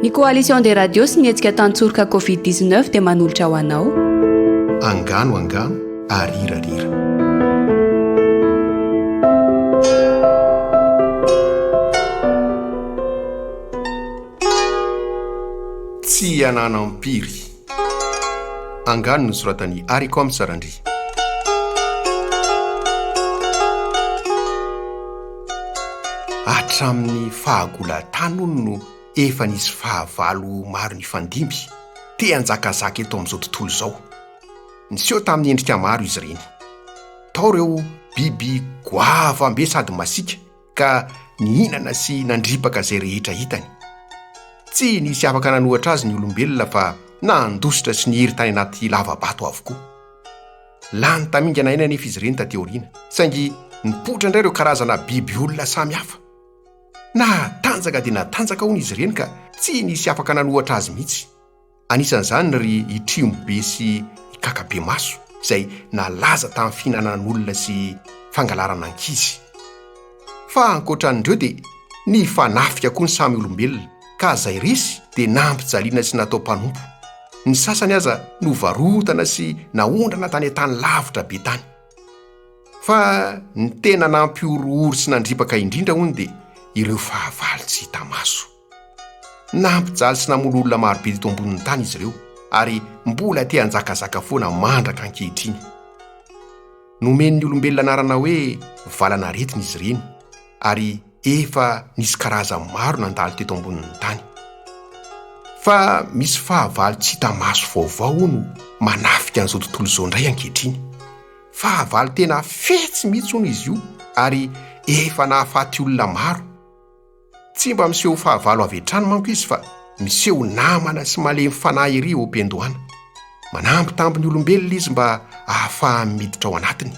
Ny Coalition des Radios sy ny hetsika Tantsoroka Covid 19 dia manolotra ho anao. Angano angano ary rira rira. Tsy ananam-piry. Angano nosoratan'i Haricom Sarandria. Hatramin'ny fahagolan-tany hono no efa nisy fahavalo maro nifandimby, te hanjakazaka eto amin'izao tontolo izao. Niseho tamin'ny endrika maro izy ireny. Tao ireo biby goavam-be sady masiaka. ka nihinana sy nandripaka izay rehetra hitany. Tsy nisy afaka nanohatra azy ny olombelona fa nandositra sy nihiry tany anaty lava-bato avokoa. Lany tamingana aina anefa izy ireny taty aoriana, saingy nipoitra indray ireo karazana biby olona samy hafa. Natanjaka dia natanjaka hono izy ireny ka tsy nisy afaka nanohatra azy mihitsy. Anisan'izany ry i Trimo be sy i Kaka be maso izay nalaza tamin'ny fihinanan'olona sy fangalarana ankizy. Fa ankoatran'ireo dia nifanafika koa ny samy olombelona ka izay resy dia nampijaliana sy natao mpanompo. Ny sasany aza novarotana sy naondrana tany an-tany lavitra be tany. Fa ny tena nampihorohoro sy nandripaka indrindra hono dia ireo fahavalo tsy hita maso. Nampijaly sy namono olona maro be teto ambonin'ny tany izy ireo ary mbola te hanjakazaka foana mandraka ankehitriny. Nomen'ny olombelona anarana hoe valan'aretina izy ireny ary efa nisy karazany maro nandalo teto ambonin'ny tany. Fa misy fahavalo tsy hita maso vaovao hono manafika an'izao tontolo izao indray ankehitriny. Fahavalo tena fetsy mihitsy hono izy io ary efa nahafaty olona maro. Tsy mba miseho fahavalo avy hatrany manko izy fa miseho namana sy malemy fanahy ery eo am-piandohana. Manambitamby ny olombelona izy mba ahafahany miditra ao anatiny.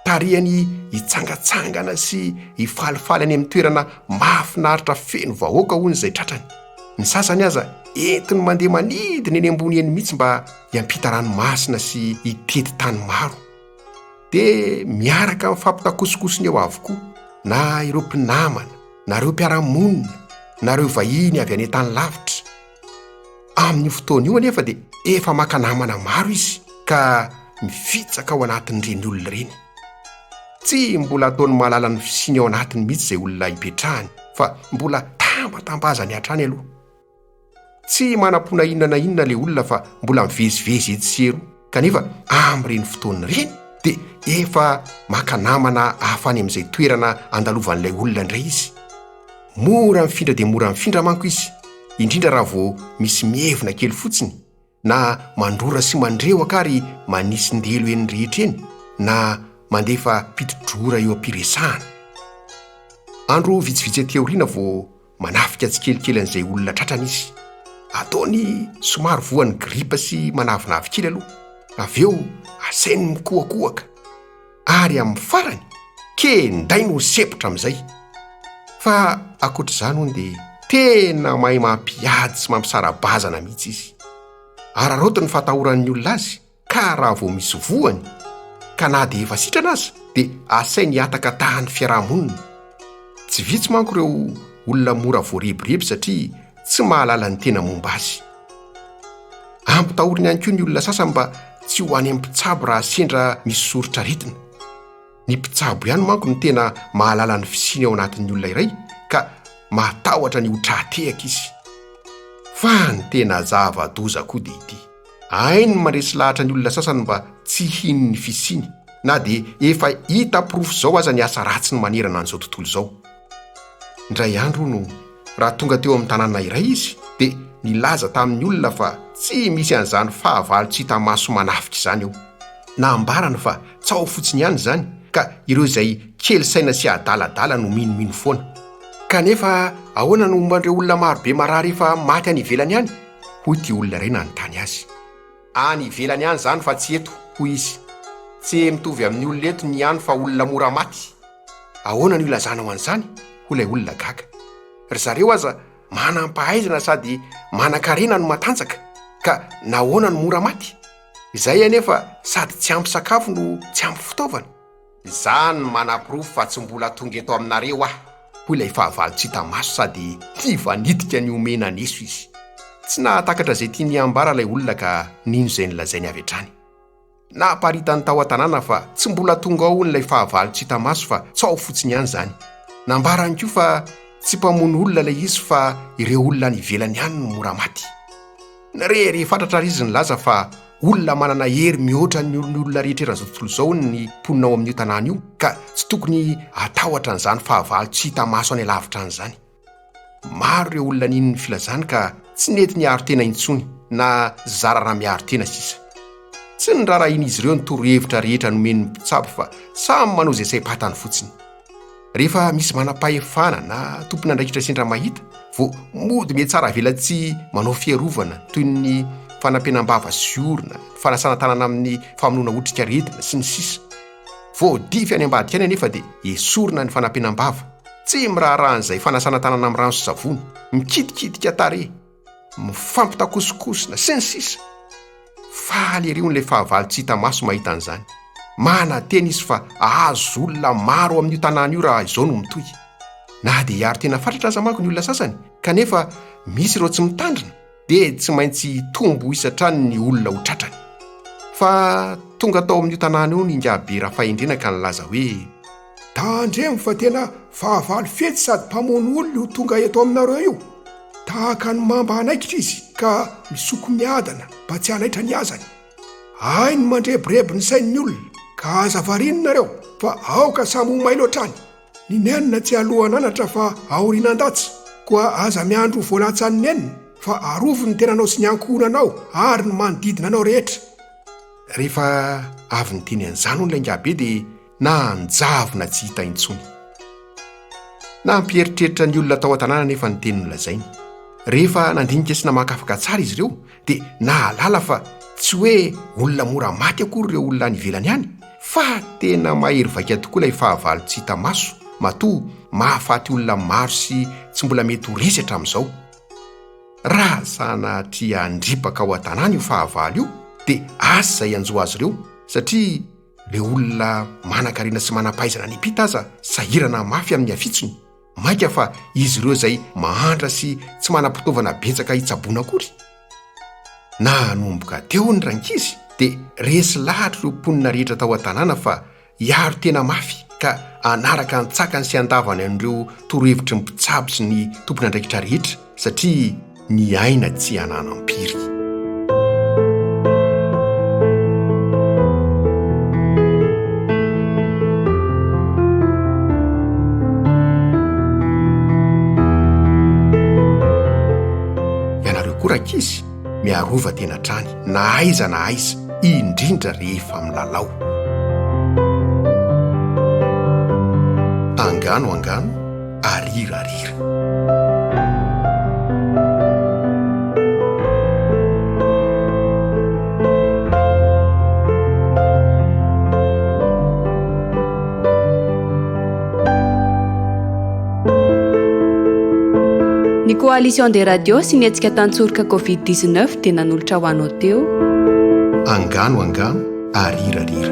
Tarihany hitsangatsangana sy hifalifaly any amin'ny toerana mahafinaritra feno vahoaka hono izay tratrany. Ny sasany aza entiny mandeha manidina eny ambony eny mihitsy mba hiampita ranomasina sy hitety tany maro. dia miaraka amin'ny fampitakosokosony eo avokoa na ireo mpinamana na ireo mpiara-monina na ireo vahiny avy any an-tany lavitra. Amin'io fotoana io anefa dia efa maka namana maro izy ka mifitsaka ao anatin'ireny olona ireny. Tsy mbola ataony mahalala ny fisiany ao anatiny mihitsy izay olona hipetrahany fa mbola tambatambazany hatrany aloha. Tsy manam-pona inona na inona ilay olona fa mbola mivezivezy etsy sy eroa, kanefa amin'ireny fotoana ireny dia efa maka namana hafa any amin'izay toerana andalovan'ilay olona indray izy. Mora mifindra dia mora mifindra manko izy, indrindra raha vao misy mievina kely fotsiny. na mandrora sy mandrehoka ary manitsin-delo eny rehetra eny na mandefa piti-drora eo am-piresahana. Andro vitsivitsy aty aoriana vao manafika tsikelikely an'izay olona tratrany izy. Ataony somary voan'ny gripa sy manavinavy kely aloha. Avy eo asainy mikohakohaka. ary amin'ny farany kendainy ho sempotra amin'izay. Fa ankoatr'izany hono dia tena mahay mampiady sy mampisara-bazana mihitsy izy. Araraoty ny fatahoran'ny olona azy ka raha vao misy voany ka na dia efa sitrana aza dia asainy hiataka tahan'ny fiaraha-monina. Tsy vitsy manko ireo olona mora voarebireby satria tsy mahalala ny tena momba azy. Ampitahorina ihany koa ny olona sasany mba tsy ho any amin'ny mpitsabo raha sendra misy soritra aretina. Ny mpitsabo ihany manko no tena mahalala ny fisiany ao anatin'ny olona iray ka mahatahotra ny ho tra-tehaka izy. Fa ny tena zava-doza koa dia ity, hainy mandresy lahatra ny olona sasany mba tsy hino ny fisiany, na dia efa hita porofo izao aza ny asa ratsiny manerana an'izao tontolo izao. Indray andro hono, raha tonga teo amin'ny tanàna iray izy, dia nilaza tamin'ny olona fa tsy misy an'izany fahavalo tsy hita maso manafika izany eo. Nambarany fa tsaho fotsiny ihany izany, ka ireo izay kely saina sy adaladala no minomino foana. Kanefa ahoana no momba an'ireo olona marobe marary efa maty any ivelany any? hoy ity olona iray nanontany azy. Any ivelany any izany fa tsy eto, hoy izy. Tse mitovy amin'ny olona eto ny any fa olona mora maty. Ahoana no ilazanao an'izany? hoy ilay olona gaga. Ry zareo aza manam-pahaizana sady manan-karena no matanjaka, ka nahoana no mora maty? Izay anefa sady tsy ampy sakafo no tsy ampy fitaovana. Izaho no manaporofo fa tsy mbola tonga eto aminareo aho, hoy ilay fahavalo tsy hita maso sady tia vanitika ny homena neso izy. Tsy nahatakatra izay tiany hambara ilay olona ka nino izay nolazainy avy hatrany. Naparitany tao an-tanàna fa tsy mbola tonga ao hono ilay fahavalo tsy hita maso fa tsaho fotsiny ihany izany. Nambarany koa fa tsy mpamono olona ilay izy fa ireo olona any ivelany any no mora maty. Re, re, fatratra ary izy nilaza fa olona manana hery mihoatra ny ny olona rehetra eran'izao tontolo izao ny mponina ao amin'io tanàna io ka tsy tokony hatahotra an'izany fahavalo tsy hita maso any alavitra any izany. Maro ireo olona nino ny filazany ka tsy nety niaro tena intsony na zara raha miaro tena sisa. Tsy nirarahian'izy ireo ny torohevitra rehetra nomen'ny mpitsabo fa samy manao izay saim-patany fotsiny. Rehefa misy manam-pahefana na tompon'andraikitra sendra mahita, vao mody mihatsara avelatsy manao fiarovana toy ny fanampenam-bava sy orona, fanasana tanana amin'ny famonoana otrikaretina, sy ny sisa. Voadify any ambadika any anefa dia esorina ny fanampenam-bava, tsy miraharaha an'izay fanasana tanana amin'ny rano sy savony, mikitikitika tarehy, mifampitakosokosona sy ny sisa Faly ery hono ilay fahavalo tsy hita maso mahita an'izany. Manantena izy fa hahazo olona maro ao amin'io tanàna io raha izao no mitohy. Na dia hiaro tena fatratra aza manko ny olona sasany kanefa misy ireo tsy mitandrina dia tsy maintsy hitombo isa hatrany ny olona ho tratrany. Fa tonga tao amin'io tanàna io ny ingahy be Rafahendrena ka nilaza hoe Tandremo fa tena fahavalo fetsy sady mpamono olona io tonga eto aminareo io. Tahaka ny mamba anaikitra izy ka misoko miadana mba tsy hanaitra ny azany. Hainy ny mandrebireby ny sain'ny olona ka aza variany nareo fa aoka samy ho mailo hatrany. Ny nenina tsy alohan'anatra fa aorianan-datsy koa aza miandry ho voalatsan'ny nenina fa arovy ny tenanao sy ny ankohonanao ary ny manodidina anao rehetra. Rehefa avy niteny an'izany hono ilay ingahibe dia na hanjavona tsy hita intsony. Nampieritreritra ny olona tao an-tanàna anefa ny teny nolazainy. Rehefa nandinika sy namakafaka tsara izy ireo, dia nahalala fa tsy hoe olona mora maty akory ireo olona any ivelany any, fa tena mahery vaika tokoa ilay fahavalo tsy hita maso, matoa mahafaty olona maro sy tsy mbola mety ho resy hatramin'izao. Raha sanatria handripaka ao an-tanàna io fahavalo io, dia asa izay hanjo azy ireo, satria Ireo olona manan-karena sy manam-pahaizana any am-pita aza sahirana mafy amin'ny afitsony, mainka fa izy ireo izay mahantra sy tsy manam-pitaovana betsaka hitsaboana akory. Nanomboka teo ny rankizy dia resy lahatra ireo mponina rehetra tao an-tanàna fa hiaro tena mafy ka hanaraka an-tsakany sy an-davany an'ireo torohevitry ny mpitsabo sy ny tompon'andraikitra rehetra, satria ny aina tsy ananam-piry. izy miarova tena hatrany na aiza na aiza indrindra rehefa milalao angano angano arirarira. Ny coalition des radios sy ny hetsika tantsoroka Covid 19 dia nanolotra ho anao teo. Angano angano. arirarira.